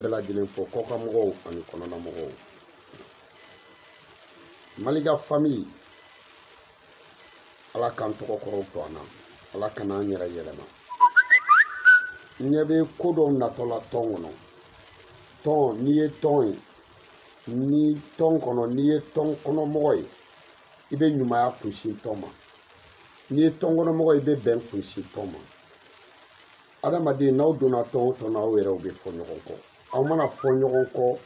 bɛɛ lajɛlen fo kɔkan mɔgɔw ani kɔnɔna mɔgɔw malika famille ala k'an tɔgɔ kɔrɔw to an na ala kana an yɛrɛ yɛlɛma n ɲɛ bɛ ko dɔw natɔ la tɔn kɔnɔ tɔn n'i ye tɔn ye ni tɔn kɔnɔ n'i ye tɔn kɔnɔmɔgɔ ye i bɛ ɲumanya kunsin tɔn ma n'i ye tɔn kɔnɔmɔgɔ ye i bɛ bɛn kunsin tɔn ma adamaden n'aw donna tɔn o tɔn na aw yɛrɛw bɛ fɔ ɲɔgɔn kɔ aw mana fɔ ɲɔgɔn kɔ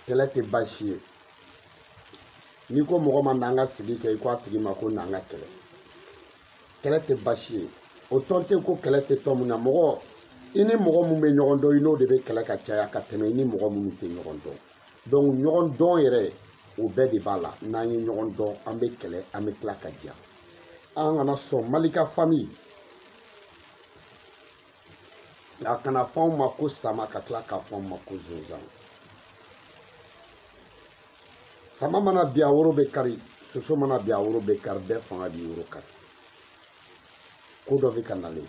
kɛlɛ tɛ baasi ye n'i ko mɔgɔ ma n'an ka sigi kɛ i ko a tigi ma ko n'an ka kɛlɛ kɛlɛ tɛ baasi ye o tɔn tɛ ko kɛlɛ tɛ tɔn min na mɔgɔ i ni mɔgɔ min bɛ ɲɔgɔn dɔn i n'o de bɛ kɛlɛ ka caya ka tɛmɛ i ni mɔgɔ minnu tɛ ɲɔgɔn dɔn donc ɲɔgɔn dɔn yɛrɛ o bɛɛ de b'a la n'an ye ɲɔgɔn dɔn an bɛ kɛlɛ an bɛ tila ka diya an kana sɔn malika famille a kana fɔ anw ma ko sama ka tila k'a fɔ anw ma ko zonzan sama mana bin a woro bɛ kari soso mana bin a woro bɛ kari bɛɛ fanga b'i woro kari ko dɔ bɛ ka nalen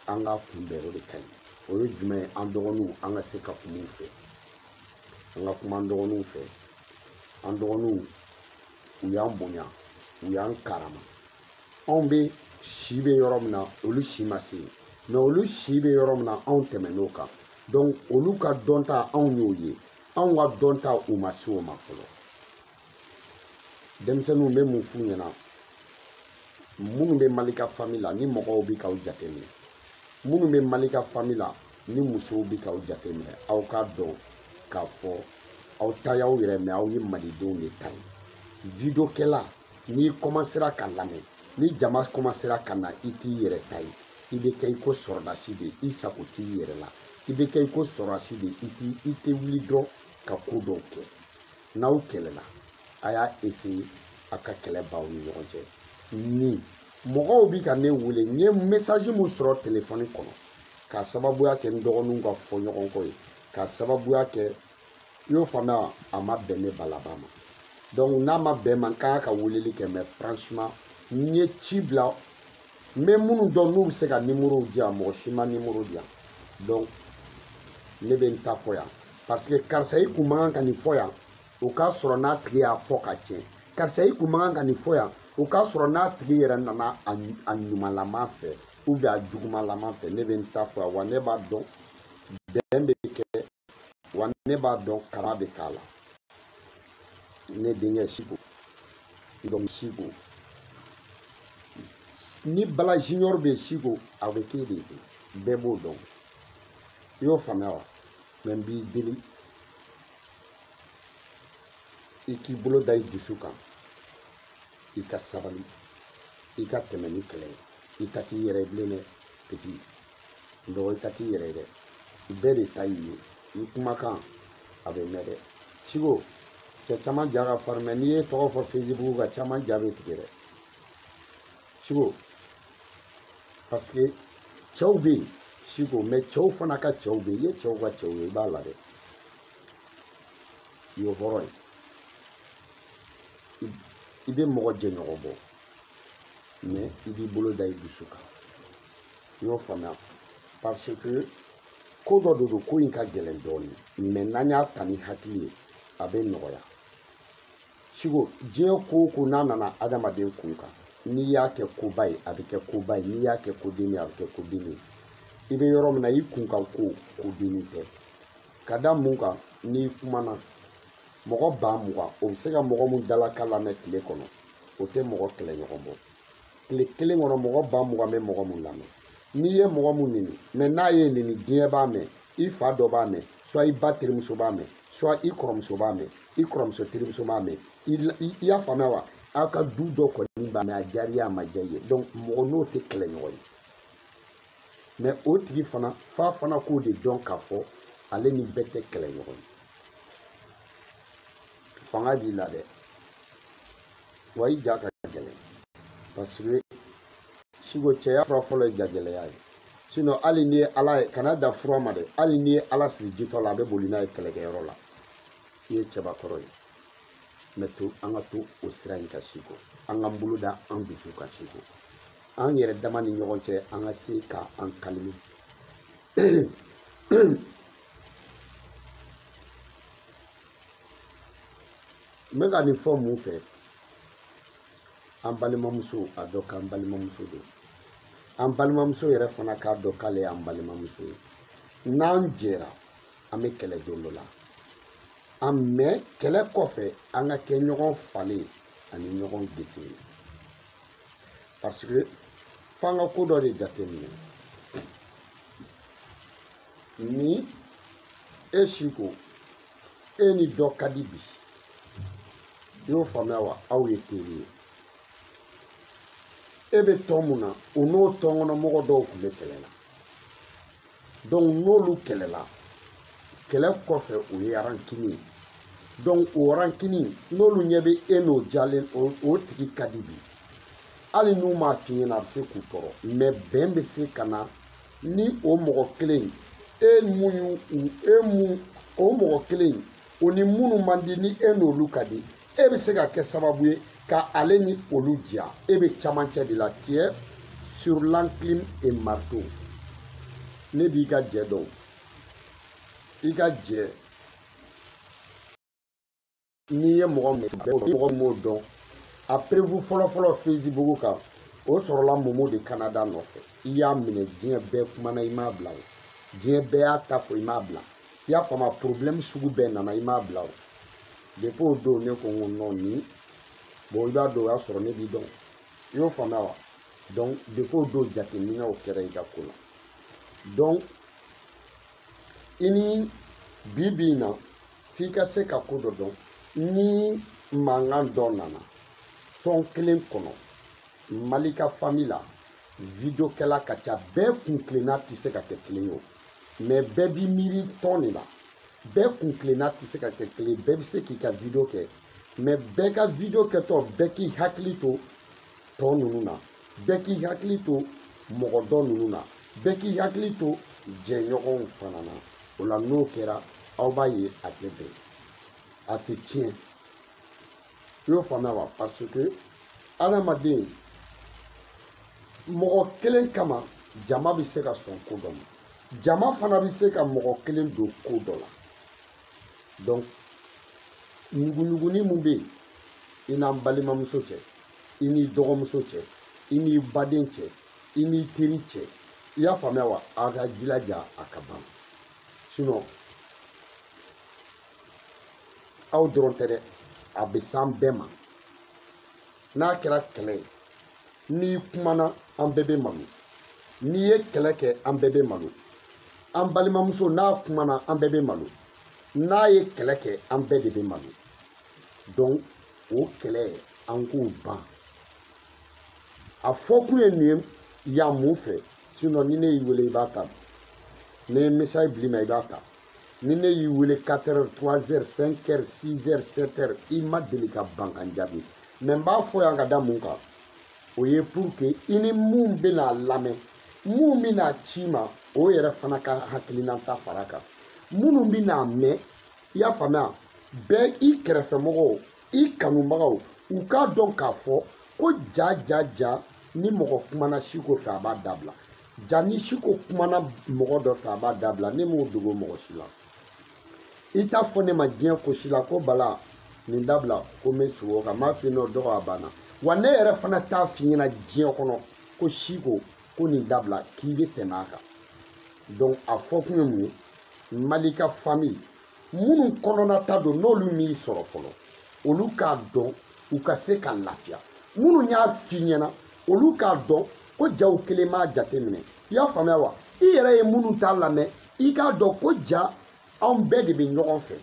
an k'a kunbɛn o de ka ɲi o ye jumɛn ye an dɔgɔninw an ka se ka kuma u fɛ an ka kuma an dɔgɔninw fɛ an dɔgɔninw u y'an bonya u y'an karama anw bɛ si bɛ yɔrɔ min na olu si ma se yen mais olu si bɛ yɔrɔ min na anw tɛmɛn'o kan donc olu ka dɔnta anw y'o ye anw ka dɔnta u ma se o ma fɔlɔ denmisɛnninw bɛ mun f'u ɲɛna minnu bɛ malika famille la ni mɔgɔw bɛ k'aw jateminɛ minnu bɛ malika famille la ni musow bɛ k'aw jateminɛ aw k'a dɔn k'a fɔ aw ta y'aw yɛrɛ mais aw ye malidenw de ta ye videokɛla n'i kɔmansera ka lamɛn ni jama kɔmansera ka na i t'i yɛrɛ ta ye i bɛ kɛ i ko sɔrɔdasi de i sago t'i yɛrɛ la i bɛ kɛ i ko sɔrɔdasi de i t'i i tɛ wuli dɔrɔn ka ko dɔw kɛ n'aw kɛlɛla a y'a essayer a ka kɛlɛ b'aw ni ɲɔgɔn cɛ ni mɔgɔw bɛ ka ne wele n ye message min sɔrɔ telefɔni kɔnɔ k'a sababuya kɛ n dɔgɔninw ka fɔɲɔgɔnkɔ ye k'a sababuya kɛ i y'o faamuya wa a ma bɛn ne balaba ma donc n'a ma bɛn n ma n kan ka weleli kɛ mais franchement n ye ci bila n bɛ minnu dɔn n'u bɛ se ka nimorow di yan mɔgɔ si ma nimoro di yan donc ne bɛ n ta fɔ yan parce que karisa i kun man kan ka nin fɔ yan o k'a sɔrɔ n'a tigi y'a fɔ ka tiɲɛ karisa i kun man kan ka nin fɔ yan o k'a sɔrɔ n'a tigi yɛrɛ nana a ɲumanlama fɛ ou bien a jugumanlama fɛ ne bɛ n ta fɔ yan wa ne b'a dɔn bɛn bɛ kɛ wa ne b'a dɔn kara bɛ k'a la ne denkɛ siko donc siko ni bala junior bɛ siko a bɛ k'e de ye bɛɛ b'o dɔn i y'o faamuya wa mais n b'i deli i k'i bolo da i dusu kan i ka sabali i ka tɛmɛ ni kɛlɛ ye i ta t'i yɛrɛ ye bilen dɛ petit dɔgɔ i ta t'i yɛrɛ ye dɛ bɛɛ de ta y'i ye i kumakan a bɛ mɛn dɛ siko cɛ caman ja ka farin mais n'i ye tɔgɔ fɔ facebook kan caman ja bɛ tigɛ dɛ siko parce que cɛw bɛ yen siko mais cɛw fana ka cɛw bɛ yen i ye cɛw ka cɛw ye i b'a la dɛ i ye hɔrɔn ye i bɛ mɔgɔ jɛɲɔgɔn bɔ mais i b'i bolo da i dusu kan i y'o faamuya parce que ko dɔ de don ko in ka gɛlɛn dɔɔnin mais n'an y'a ta ni hakili ye a bɛ nɔgɔya siko diɲɛ ko o ko n'a nana adamaden kun kan n'i y'a kɛ koba ye a bɛ kɛ koba ye n'i y'a kɛ kodenni a bɛ kɛ kodenni ye i bɛ yɔrɔ min na i kun kan ko kodenni tɛ ka da mun kan n'i kumana mɔgɔ ba mugan o bɛ se ka mɔgɔ mun dalakan lamɛn tile kɔnɔ o tɛ mɔgɔ kɛlɛɲɔgɔn bɔ tile kelen kɔnɔ mɔgɔ ba mugan bɛ mɔgɔ mun lamɛn n'i ye mɔgɔ mun neni mais n'a y'i neni diɲɛ b'a mɛn i fa dɔ b'a mɛn soit i ba terimuso b'a mɛn soit i kɔrɔmuso b'a mɛn i kɔrɔmuso terimuso b'a mɛn i y'a faamuya wa aw ka du dɔ kɔni b'a mɛn a diyara i ye a ma diya i ye donc mɔgɔ n'o tɛ kɛlɛɲɔgɔn ye mais o tigi fana f'a fana k'o de dɔn k'a fɔ ale ni bɛɛ tɛ kɛlɛɲɔgɔn ye fanga b'i la dɛ wa i ja ka gɛlɛn parce que siko cɛya fura fɔlɔ ye jagɛlɛya ye sinon hali n'i ye ala ye kana da fura ma dɛ hali n'i ye ala siri jitɔ la a bɛ boli n'a ye kɛlɛkɛyɔrɔ la i ye cɛbakɔrɔ ye mais to an ka to o sira in kan siko an k'an bolo da an dusu kan siko an yɛrɛ dama ni ɲɔgɔn cɛ an ka se ka an kalimi n bɛ ka nin fɔ mun fɛ an balimamuso a dɔn k'an balimamuso don an balimamuso yɛrɛ fana k'a dɔn k'ale y'an balimamuso ye n'an jɛra an bɛ kɛlɛ don dɔ la an mais kɛlɛ kɔfɛ an ka kɛ ɲɔgɔn falɛ ani ɲɔgɔn gese ye parce que f'an ka ko dɔ de jateminɛ ni e si ko e ni dɔ ka di bi i y'o faamuya wa aw ye teri ye e bɛ tɔn mun na o n'o tɔn kɔnɔ mɔgɔ dɔw tun bɛ kɛlɛ la donc n'olu kɛlɛla kɛlɛ kɔfɛ o ye rancune ye donc o rancune n'olu ɲɛ bɛ e n'o jalen o tigi ka di bi hali n'u m'a f'i ɲɛna a bɛ se k'u tɔɔrɔ mais bɛn bɛ se ka na ni o mɔgɔ kelen e mun y'u e mun o mɔgɔ kelen o ni minnu man di ni e n'olu ka di e bɛ se ka kɛ sababu ye ka ale ni olu diya e bɛ camancɛ de la tu es sur l'enclume et marteau ne b'i ka jɛ dɔn i ka jɛ n'i ye mɔgɔ min mɔgɔ min b'o dɔn a preuve fɔlɔfɔlɔ facebook kan o sɔrɔla momo de canada nɔfɛ i y'a minɛ diɲɛ bɛɛ kumana i m'a bila o diɲɛ bɛɛ y'a ta fɔ i m'a bila i y'a faamu problème sugu bɛɛ nana i m'a bila o depuis o don ne ko n ko non nin bon i b'a dɔn o y'a sɔrɔ ne b'i dɔn i y'o faamuya wa donc depuis o don jateminɛw kɛra i ka ko la donc i ni bi bi in na f'i ka se ka ko dɔ dɔn ni mankan dɔ nana tɔn kelen kɔnɔ mali ka famille la videokɛla ka ca bɛɛ kuntilenna tɛ se ka kɛ kelen ye o mais bɛɛ b'i miiri tɔn de la bɛɛ kuntilenna tɛ se ka kɛ kelen bɛɛ bɛ se k'i ka video kɛ mais bɛɛ ka video kɛtɔ bɛɛ k'i hakili to tɔ ninnu na bɛɛ k'i hakili to mɔgɔ dɔ ninnu na bɛɛ k'i hakili to jɛɲɔgɔnw fana na o la n'o kɛra aw b'a ye a tɛ bɛn a tɛ tiɲɛ i y'o faamuya wa parce que adamaden mɔgɔ kelen kama jama bɛ se ka sɔn ko dɔ ma jama fana bɛ se ka mɔgɔ kelen don ko dɔ la donc ɲuguɲuguni min bɛ yen i n'an balimamuso cɛ i n'i dɔgɔmuso cɛ i n'i baden cɛ i n'i teri cɛ i y'a faamuya wa a ka jilaja a ka ban sinon aw dɔrɔn tɛ dɛ a bɛ s'an bɛɛ ma n'a kɛra kɛlɛ ye n'i kumana an bɛɛ bɛ malo n'i ye kɛlɛ kɛ an bɛɛ bɛ malo an balimamuso n'a kumana an bɛɛ bɛ malo n'a ye kɛlɛ kɛ an bɛɛ de bɛ malo donc o kɛlɛ an k'o ban a fɔkun ye nin ye yan mun fɛ sinɔn ni ne y'i wele i b'a ta ne ye message bil'i ma i b'a ta ni ne y'i wele 4 heures 3 heures 5 heures 6 heures 7 heures i ma deli ka ban ka n jaabi mɛ n b'a fɔ yan ka da mun kan o ye pour que i ni mun bɛna lamɛn mun bɛna ci ma o yɛrɛ fana ka hakilinata fara kan minnu bɛna mɛn i y'a faamuya bɛɛ i kɛrɛfɛmɔgɔw i kanubagaw u k'a dɔn k'a fɔ ko ja ja ja ni mɔgɔ kumana siko fɛ a b'a dabila ja ni siko kumana mɔgɔ dɔ fɛ a b'a dabila ne m'o dogo mɔgɔ si la i t'a fɔ ne ma diɲɛ ko si la ko bala nin dabila ko n bɛ segin o kan n b'a f'i n'o dɔgɔ a banna wa ne yɛrɛ fana t'a f'i ɲɛna diɲɛ kɔnɔ ko siko ko nin dabila k'i bɛ tɛmɛ a kan donc a fɔkun ye mun ye malika fami minnu kɔnɔna ta don n'olu m'i sɔrɔ fɔlɔ olu k'a dɔn u ka se ka lafiya minnu y'a f'i ɲɛna olu k'a dɔn ko ja u kelen m'a jateminɛ i y'a faamuya wa i yɛrɛ ye minnu t'a lamɛn i k'a dɔn ko ja anw bɛɛ de bɛ ɲɔgɔn fɛ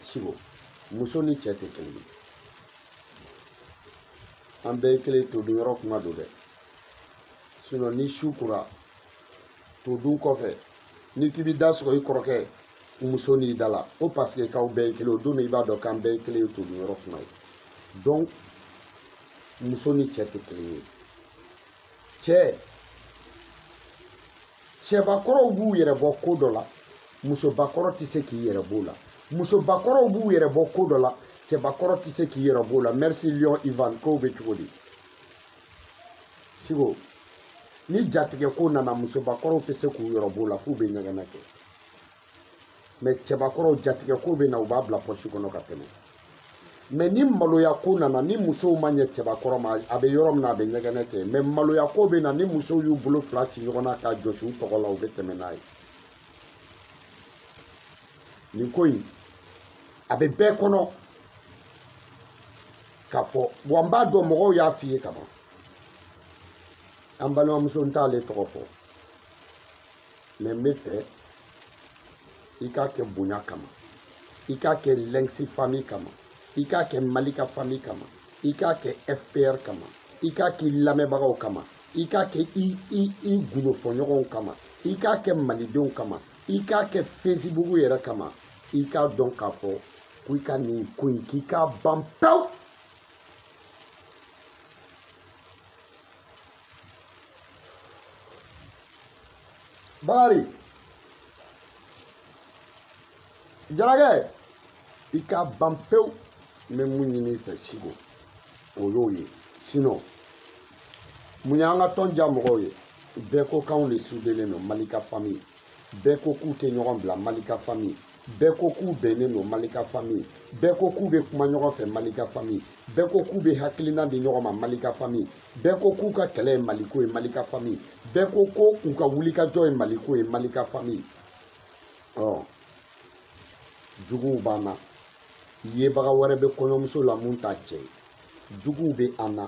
sigo muso ni cɛ tɛ kelen ye an bɛɛ ye kelen to dun yɔrɔ kuma don dɛ sinɔn ni su kora to dun kɔfɛ n'i k'i bɛ da sɔgɔ i kɔrɔkɛ muso n'i da la ko paseke k'aw bɛɛ ye kelen o don min i b'a dɔn k'an bɛɛ ye kelen ye to dun yɔrɔ kuma ye donc muso ni cɛ tɛ kelen ye cɛ cɛbakɔrɔw b'u yɛrɛ bɔ ko dɔ la musobakɔrɔ tɛ se k'i yɛrɛ b'o la musobakɔrɔw b'u yɛrɛ bɔ ko dɔ la cɛbakɔrɔ tɛ se k'i yɛrɛ b'o la merci lion ivan kow bɛ cogo di siko ni jatigɛ ko nana musobakɔrɔw tɛ se k'u yɛrɛ b'o la f'u bɛ ɲɛgɛnɛ kɛ mɛ cɛbakɔrɔw jatigɛ ko bɛ na u b'a bila pɔsi kɔnɔ ka tɛmɛ mɛ ni maloya ko nana ni musow ma ɲɛ cɛbakɔrɔ ma a bɛ yɔrɔ min na a bɛ ɲɛgɛnɛ kɛ mɛ maloya ko bɛ na ni musow y'u bolo fila ci ɲɔgɔn na k'a jɔsi u tɔgɔ la u bɛ tɛmɛ n'a ye nin ko in a bɛ bɛɛ kɔnɔ k'a fɔ wa n b'a dɔn mɔgɔw y'a f'i ye kaban an balimamuso n t'ale tɔgɔ fɔ mɛ n b'a fɛ i k'a kɛ bonya kama i k'a kɛ lɛnkisi fami kama i k'a kɛ malika fami kama i k'a kɛ fpr kama i k'a k'i lamɛnbagaw kama i k'a kɛ i i i gundofɔɲɔgɔnw kama i k'a kɛ malidenw kama i k'a kɛ fesibugu yɛrɛ kama i k'a dɔn k'a fɔ ko i ka nin ko in k'i k'a ban pewu bakari jarakɛ i k'a ban pewu n bɛ mun ɲini i fɛ siko o y'o ye sinon mun y'an ka tɔn diya mɔgɔw ye bɛɛ ko k'anw de sudelen don malika famille bɛɛ ko k'u tɛ ɲɔgɔn bila malika famille bɛɛ ko k'u bɛnnen don malika famille bɛɛ ko k'u bɛ kuma ɲɔgɔn fɛ malika famille bɛɛ ko k'u bɛ hakilina di ɲɔgɔn ma malika famille bɛɛ ko k'u ka kɛlɛ ye maliko ye malika famille bɛɛ ko ko u ka wulikajɔ ye maliko ye malika famille ɔ juguw b'an na yebaga wɛrɛ bɛ kɔɲɔmuso la mun t'a cɛ ye juguw bɛ an na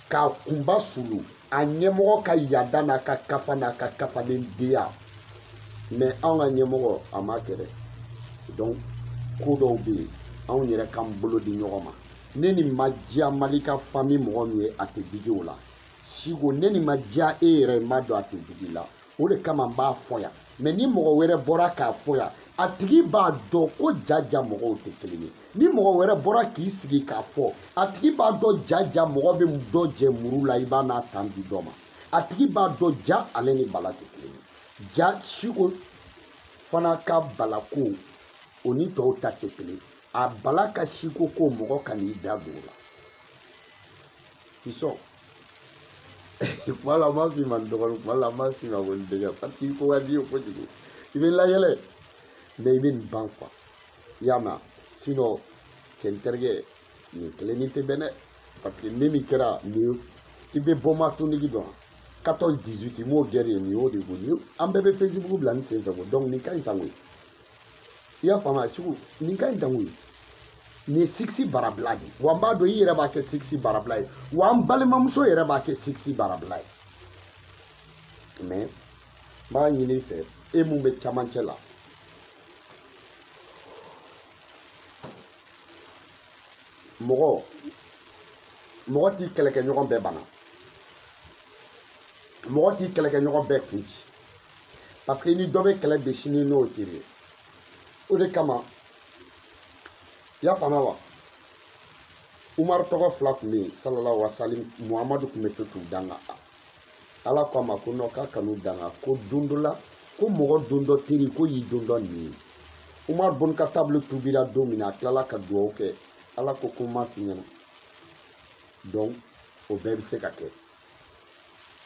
k'a kunba sulu a ɲɛmɔgɔ ka yada n'a ka kafa n'a ka kafalen deya mais anw ka ɲɛmɔgɔ a ma kɛ dɛ donc ko dɔw bɛ yen anw yɛrɛ k'an bolo di ɲɔgɔn ma ne ni ma diya malika famille mɔgɔ min ye a tɛ digi o la siko ne ni ma diya e yɛrɛ n b'a dɔn a tɛ digi la o de kama n b'a fɔ yan mais ni mɔgɔ wɛrɛ bɔra k'a fɔ yan a tigi b'a dɔn ko jaja mɔgɔw tɛ kelen ye ni mɔgɔ wɛrɛ bɔra k'i sigi k'a fɔ a tigi b'a dɔn jaja mɔgɔ bɛ dɔ jɛ muru la i b'a n'a tan di dɔ ma a tigi b'a dɔn ja ale ni bala tɛ kelen ye ja siko fana ka balako o ni tɔw ta tɛ kelen a bala ka siko ko mɔgɔ kan'i da don o la i sɔn kuma la n b'a f'i ma n dɔgɔnin kuma la n b'a f'i ma ko n denkɛ parce que i ko ka di n ye kojugu i bɛ n layɛlɛ mais i bɛ nin ban quoi i y'a mɛn sinon cɛ n terikɛ nin kelen ni tɛ bɛn dɛ parce que ne min kɛra nin ye i bɛ bombe atomique dɔn quatorze dix-huit i m'o guerre ye nin y'o de ko nin an bɛɛ bɛ facebook bila nin sen fɛ ko donc nin ka ɲi tan koyi i y'a faamuya siko nin ka ɲi tan koyi nin ye sigisi barabila de ye wa n b'a dɔn i yɛrɛ b'a kɛ sigisi barabila ye wa n balimamuso yɛrɛ b'a kɛ sigisi barabila ye mais n b'a ɲini i fɛ e mun bɛ camancɛ la mɔgɔ mɔgɔ t'i kɛlɛkɛɲɔgɔn bɛɛ bana mɔgɔ t'i kɛlɛkɛɲɔgɔn bɛɛ kun ci parce que i ni dɔ bɛ kɛlɛ bi sini n'o teri ye o de kama i y'a faamuya wa umaru tɔgɔ fila tun bɛ yen salalahu wasalim muhamadu tun bɛ to t'u danga ala ko a ma ko non k'a kan'u danga ko don dɔ la ko mɔgɔ don dɔ teri ko y'i don dɔ nin ye umaru bun katabu tubira don min na a tilala ka dugawu kɛ ala ko ko n m'a f'i ɲɛna donc o bɛɛ bɛ se ka kɛ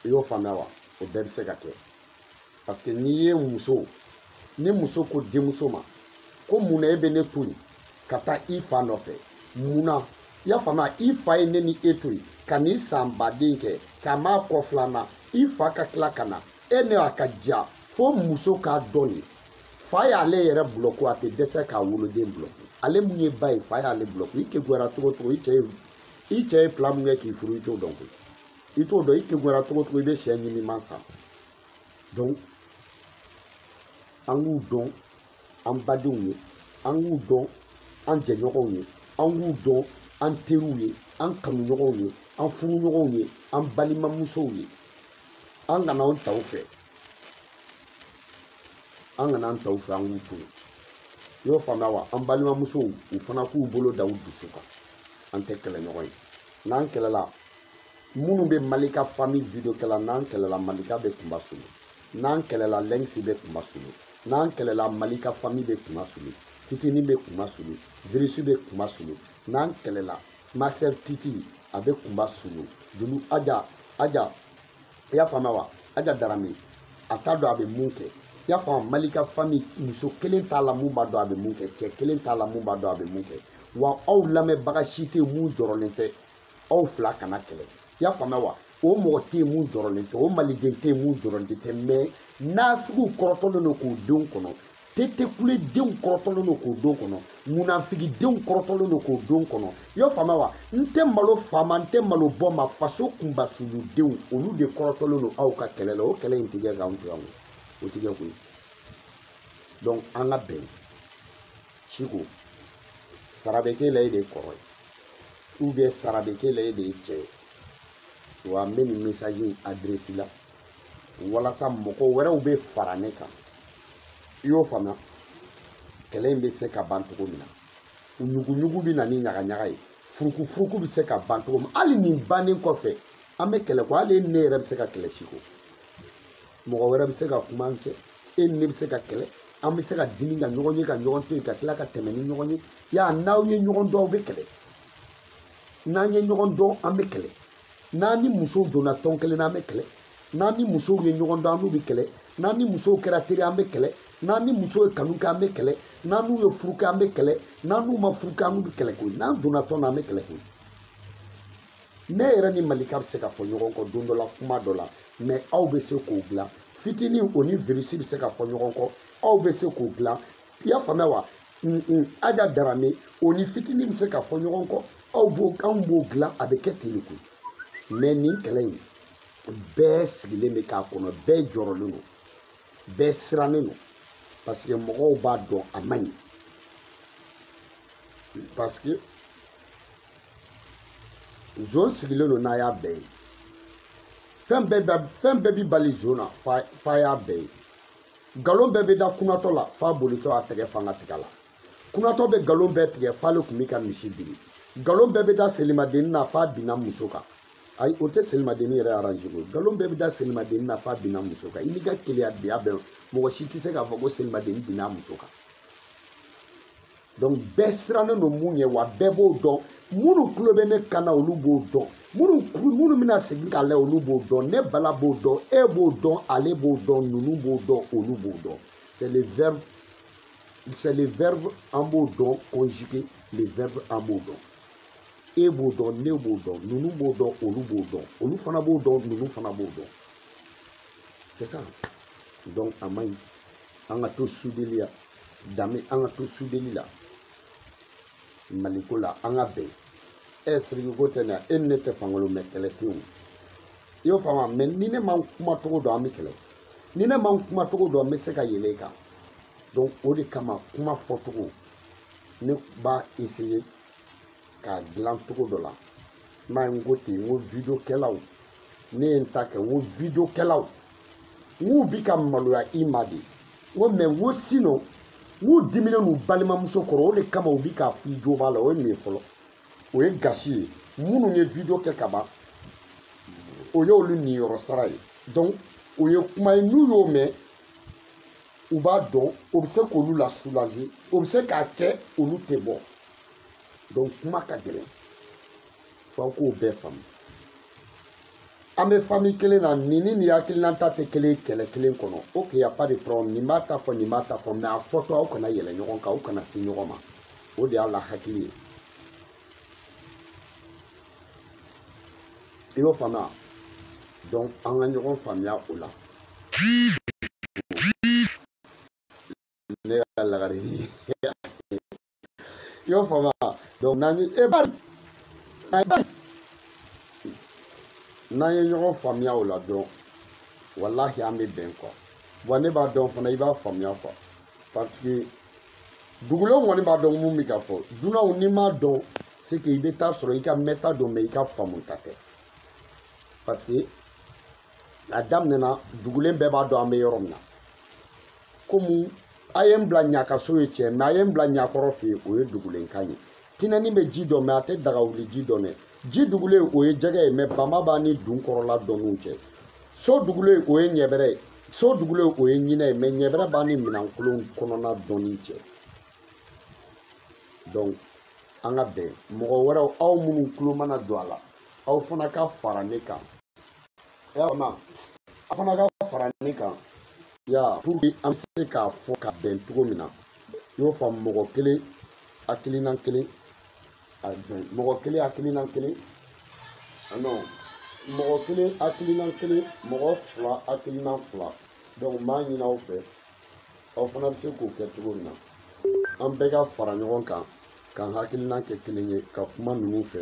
i y'o faamuya wa o bɛɛ bɛ se ka kɛ parce que n'i ye muso ni muso ko denmuso ma ko mun na e bɛ ne to yen ka taa i fa nɔfɛ mun na i y'a faamuya i fa ye ne ni e to yen ka n'i san baden kɛ k'a m'a kɔ filanan i fa ka tila ka na e ne a ka diya fo muso k'a dɔn den fa y'ale yɛrɛ bulɔku a tɛ dɛsɛ k'a woloden bulɔku ale mun ye ba ye fa y'ale bulɔku i kegunyara cogo cogo i cɛ ye i cɛ ye plan mun kɛ k'i furu i t'o dɔn koyi i t'o dɔn i kegunyara cogo cogo i bɛ sɛ ɲiniman san donc an k'u dɔn an badenw ye an k'u dɔn an jɛɲɔgɔnw ye an k'u dɔn an teriw ye an kanuɲɔgɔnw ye an furuɲɔgɔnw ye an balimamusow ye an kana an taw fɛ an kana an taw fɛ an k'u to yen i y'o faamuya wa an balimamusow u fana k'u bolo da u dusu kan an tɛ kɛlɛ ɲɔgɔn ye n'an kɛlɛla minnu bɛ malika famille video kɛla n'an kɛlɛla malika bɛ kunba sulu n'an kɛlɛla lɛngisi bɛ kunba sulu n'an kɛlɛla malika famille bɛ kunba sulu fitini bɛ kunba sulu virisi bɛ kunba sulu n'an kɛlɛla master titi a bɛ kunba sulu dulu aja aja i y'a faamuya wa aja darame a t'a dɔn a bɛ mun kɛ i y'a faamu malika famille muso kelen t'a la mun b'a dɔn a bɛ mun kɛ cɛ kelen t'a la mun b'a dɔn a bɛ mun kɛ wa aw lamɛnbaga si tɛ mun jɔrɔlen tɛ aw fila kana kɛlɛ i y'a faamuya wa o mɔgɔ tɛ mun jɔrɔlen tɛ o maliden tɛ mun jɔrɔlen tɛ mais nasigiw kɔrɔtɔlen don k'o don kɔnɔ tetekule denw kɔrɔtɔlen don k'o don kɔnɔ munafigi denw kɔrɔtɔlen don k'o don kɔnɔ i y'o faamuya wa n tɛ malo fa ma n tɛ malo ba ma faso kunbasulu denw olu de kɔrɔtɔlen don aw ka kɛlɛ la o kɛlɛ in tigɛ k'anw tigɛ koyi o tigɛ koyi donc an ka bɛn siko sara bɛ k'e la e de ye kɔrɔ ye ou bien sara bɛ k'e la e de ye cɛ ye wa n bɛ nin message in adresse la walasa mɔgɔ wɛrɛw bɛ fara ne kan i y'o faamuya kɛlɛ in bɛ se ka ban cogo min na ɲuguɲugu bɛ na ni ɲagaɲaga ye furukufuruku bɛ se ka ban cogo min hali nin bannen kɔfɛ an bɛ kɛlɛ ko hali ne yɛrɛ bɛ se ka kɛlɛ siko mɔgɔ wɛrɛ bɛ se ka kuma an cɛ e ni ne bɛ se ka kɛlɛ an bɛ se ka dimi ka ɲɔgɔn ye ka ɲɔgɔn to yen ka tila ka tɛmɛ ni ɲɔgɔn ye y'a n'aw ye ɲɔgɔn dɔn aw bɛ kɛlɛ n'an ye ɲɔgɔn dɔn an bɛ kɛlɛ n'an ni musow donna tɔn kelen na an bɛ kɛlɛ n'an ni musow ye ɲɔgɔn dɔn an n'u bɛ kɛlɛ n'an ni musow kɛra teri an bɛ kɛlɛ n'an ni musow ye kanu kɛ an bɛ kɛlɛ n'an n'u ye furu kɛ an bɛ kɛlɛ n'an n'u ma furu kɛ an n'u bɛ kɛlɛ koyi n'an donna tɔn na an bɛ kɛlɛ koyi ne yɛrɛ ni malika bɛ se ka fɔ ɲɔgɔn kɔ don dɔ la kuma dɔ la mais aw bɛ se k'o dilan fitini o ni virisi bɛ se ka fɔ ɲɔgɔn kɔ aw bɛ se k'o dilan i y'a faamuya wa aja darame o ni fitinin bɛ se ka fɔ ɲɔgɔn kɔ aw b'o anw b'o dilan a bɛ kɛ ten de koyi mais nin kɛlɛ in bɛɛ sigilen bɛ k'a kɔnɔ bɛɛ jɔrɔlen don bɛɛ sirannen don parce que mɔgɔw b'a dɔn a man ɲi parce que zon sigilen don n'a y'a bɛɛ ye fɛn bɛɛ bɛ fɛn bɛɛ bi bali zon na fa y'a bɛɛ ye nkalon bɛɛ bɛ da kunatɔ la f'a bolitɔ a tɛgɛ fa n ka tigɛ la kunatɔ bɛ nkalon bɛɛ tigɛ f'ale tun bɛ ka misi biri nkalon bɛɛ bɛ da selimadenni na f'a binna muso kan ayi o tɛ selimadenni yɛrɛ arranger koyi nkalon bɛɛ bɛ da selimadenni na f'a binna muso kan i n'i ka keleya diya bɛɛ mɔgɔ si tɛ se k'a fɔ ko selimadenni binna muso kan donc bɛɛ sirannen don mun ye wa bɛɛ b'o dɔn minnu tulo bɛ ne kan na olu b'o dɔn minnu minnu bɛna segin k'a lajɛ olu b'o dɔn ne bala b'o dɔn e b'o dɔn ale b'o dɔn ninnu b'o dɔn olu b'o dɔn c'est le verbe c'est le verbe an b'o dɔn conjugué le verbe an b'o dɔn e b'o dɔn ne b'o dɔn ninnu b'o dɔn olu b'o dɔn olu fana b'o dɔn ninnu fana b'o dɔn c'est ça donc a man ɲi an ka to sudeli ya dan bɛ an ka to sudeli la maliko la an ka bɛn ɛ e, siriki ko tɛ na e ni ne tɛ fankolo mais kɛlɛ tɛ yen i y'o faamu mais ni ne ma n kumacogo dɔn an bɛ kɛlɛ ni ne ma n kumacogo dɔn n bɛ se ka yɛlɛ i kan donc o de kama kuma fɔcogo ne b'a essayer k'a dilan cogo dɔ la n b'a ye n ko ten n ko video kɛlaw ne ye n ta kɛ n ko video kɛlaw N k'u bi ka maloya i ma de. N ko mais n ko sinon n k'u diminen n'u balimamuso kɔrɔ o de kama u bi k'a f'i jo b'a la o ye nin ye fɔlɔ o ye gasi ye minnu ye video kɛ ka ban o y'olu niyɔrɔ sara ye donc o ye kuma ye n'u y'o mɛn u b'a dɔn o bɛ se k'olu la soulager o bɛ se k'a kɛ olu tɛ bɔ donc kuma ka gɛlɛn f'aw k'o bɛɛ faamu an bɛ famille kelen na nin ni nin hakilinata tɛ kelen kɛlɛ kelen kɔnɔ ok y a pas de problème nin b'a ta fɔ nin b'a ta fɔ mais a fɔtɔ aw kana yɛlɛ ɲɔgɔn kan aw kana se ɲɔgɔn ma o de y'a la hakili ye i y'o faamuya donc an ka ɲɔgɔn faamuya o la ne ka lagare ye i y'o faamu wa donc n'an ye e bari n'an ye ɲɔgɔn faamuya o la dɔrɔn walahi an bɛ bɛn quoi bon ne b'a dɔn fana i b'a faamuya quoi parce que dugulenw kɔni b'a dɔn mun bɛ ka fɔ dunanw n'i m'a dɔn c'est que i bɛ taa sɔrɔ i ka mɛta don mais i ka faamuta tɛ parce que a daminɛna dugulen bɛɛ b'a dɔn an bɛ yɔrɔ min na komi a ye n bila ɲakaso ye tiɲɛ mais a ye n bila ɲakɔrɔ fɛ yen o ye dugulenkan ye tinɛni bɛ ji dɔn mais a tɛ dagawuli ji dɔn dɛ ji dugulen o ye jɛgɛ ye mais bama b'a ni dun kɔrɔla dɔnniw cɛ so dugulen o ye ɲɛbɛrɛ ye so dugulen o ye ɲinɛ ye mais ɲɛbɛrɛ b'a ni minɛnkolon kɔnɔna dɔnni cɛ donc an ka bɛn mɔgɔ wɛrɛw aw minnu tulo mana don a la aw fana ka fara ne kan y'a ma aw fana ka fara ne kan ya pour que an bɛ se k'a fɔ ka bɛn cogo min na i y'o faamu mɔgɔ kelen hakilinan kelen mɔgɔ kelen hakilinan kelen non mɔgɔ kelen hakilinan kelen mɔgɔ fila hakilinan fila donc n b'a ɲini aw fɛ aw fana bɛ se k'o kɛ cogo min na an bɛɛ ka fara ɲɔgɔn kan k'an hakilinan kɛ kelen ye ka kuma ninnu fɛ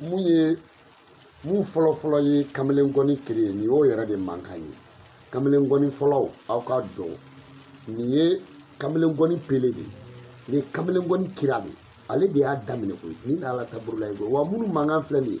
min ye min fɔlɔfɔlɔ ye kamalen ngɔni créer nin y'o yɛrɛ de mankan ye kamalen ngɔni fɔlaw aw k'a dɔn nin ye kamalen ngɔni pele de ye nin ye kamalen ngɔni kira de ye ale de y'a daminɛ koyi nin alata burulaye koyi wa minnu mankan filɛ nin ye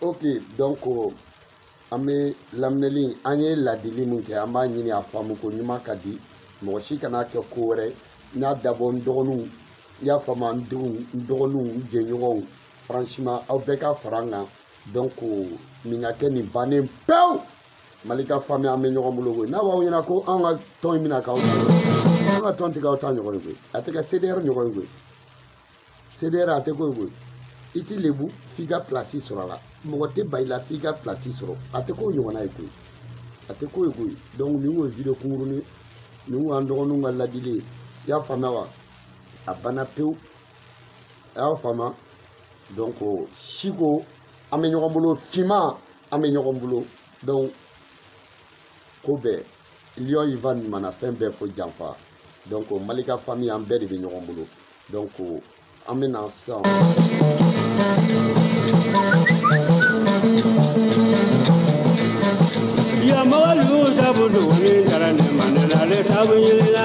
ok donc an bɛ laminɛli an ye ladili min kɛ an b'a ɲini a faamu koɲuman ka di mɔgɔ si kana kɛ ko wɛrɛ n y'a dabɔ n dɔgɔninw i y'a faamu n denw n dɔgɔninw n jɛɲɔgɔnw franchement aw bɛɛ ka fara n kan donc nin ka kɛ nin bannen pewu malika famille an bɛ ɲɔgɔn bolo koyi n'a b'aw ɲɛna ko anw ka tɔn in bɛna k'aw ta an ka tɔn tɛ k'aw ta ɲɔgɔn ye koyi a tɛ kɛ cdr ɲɔgɔn ye koyi cdr a tɛ k'o ye koyi i t'i lebu f'i ka pilasi sɔrɔ a la mɔgɔ tɛ ba i la f'i ka pilasi sɔrɔ a tɛ k'o ɲɔgɔnna ye koyi a tɛ k'o ye koyi donc nin kun ye video kunkurunin nin kun y'an dɔgɔninw ka ladili ye i y'a faamuya wa a banna pewu a y'a faamuya donc siko an bɛ ɲɔgɔn bolo finman an bɛ ɲɔgɔn bolo donc ko bɛɛ lion yi va ɲuman na fɛn bɛɛ fo janfa donc malika famille an bɛɛ de bɛ ɲɔgɔn bolo donc an bɛ na sisan. yamawaliw sabu duguni jara ne ma ne na ale sabu ɲinina.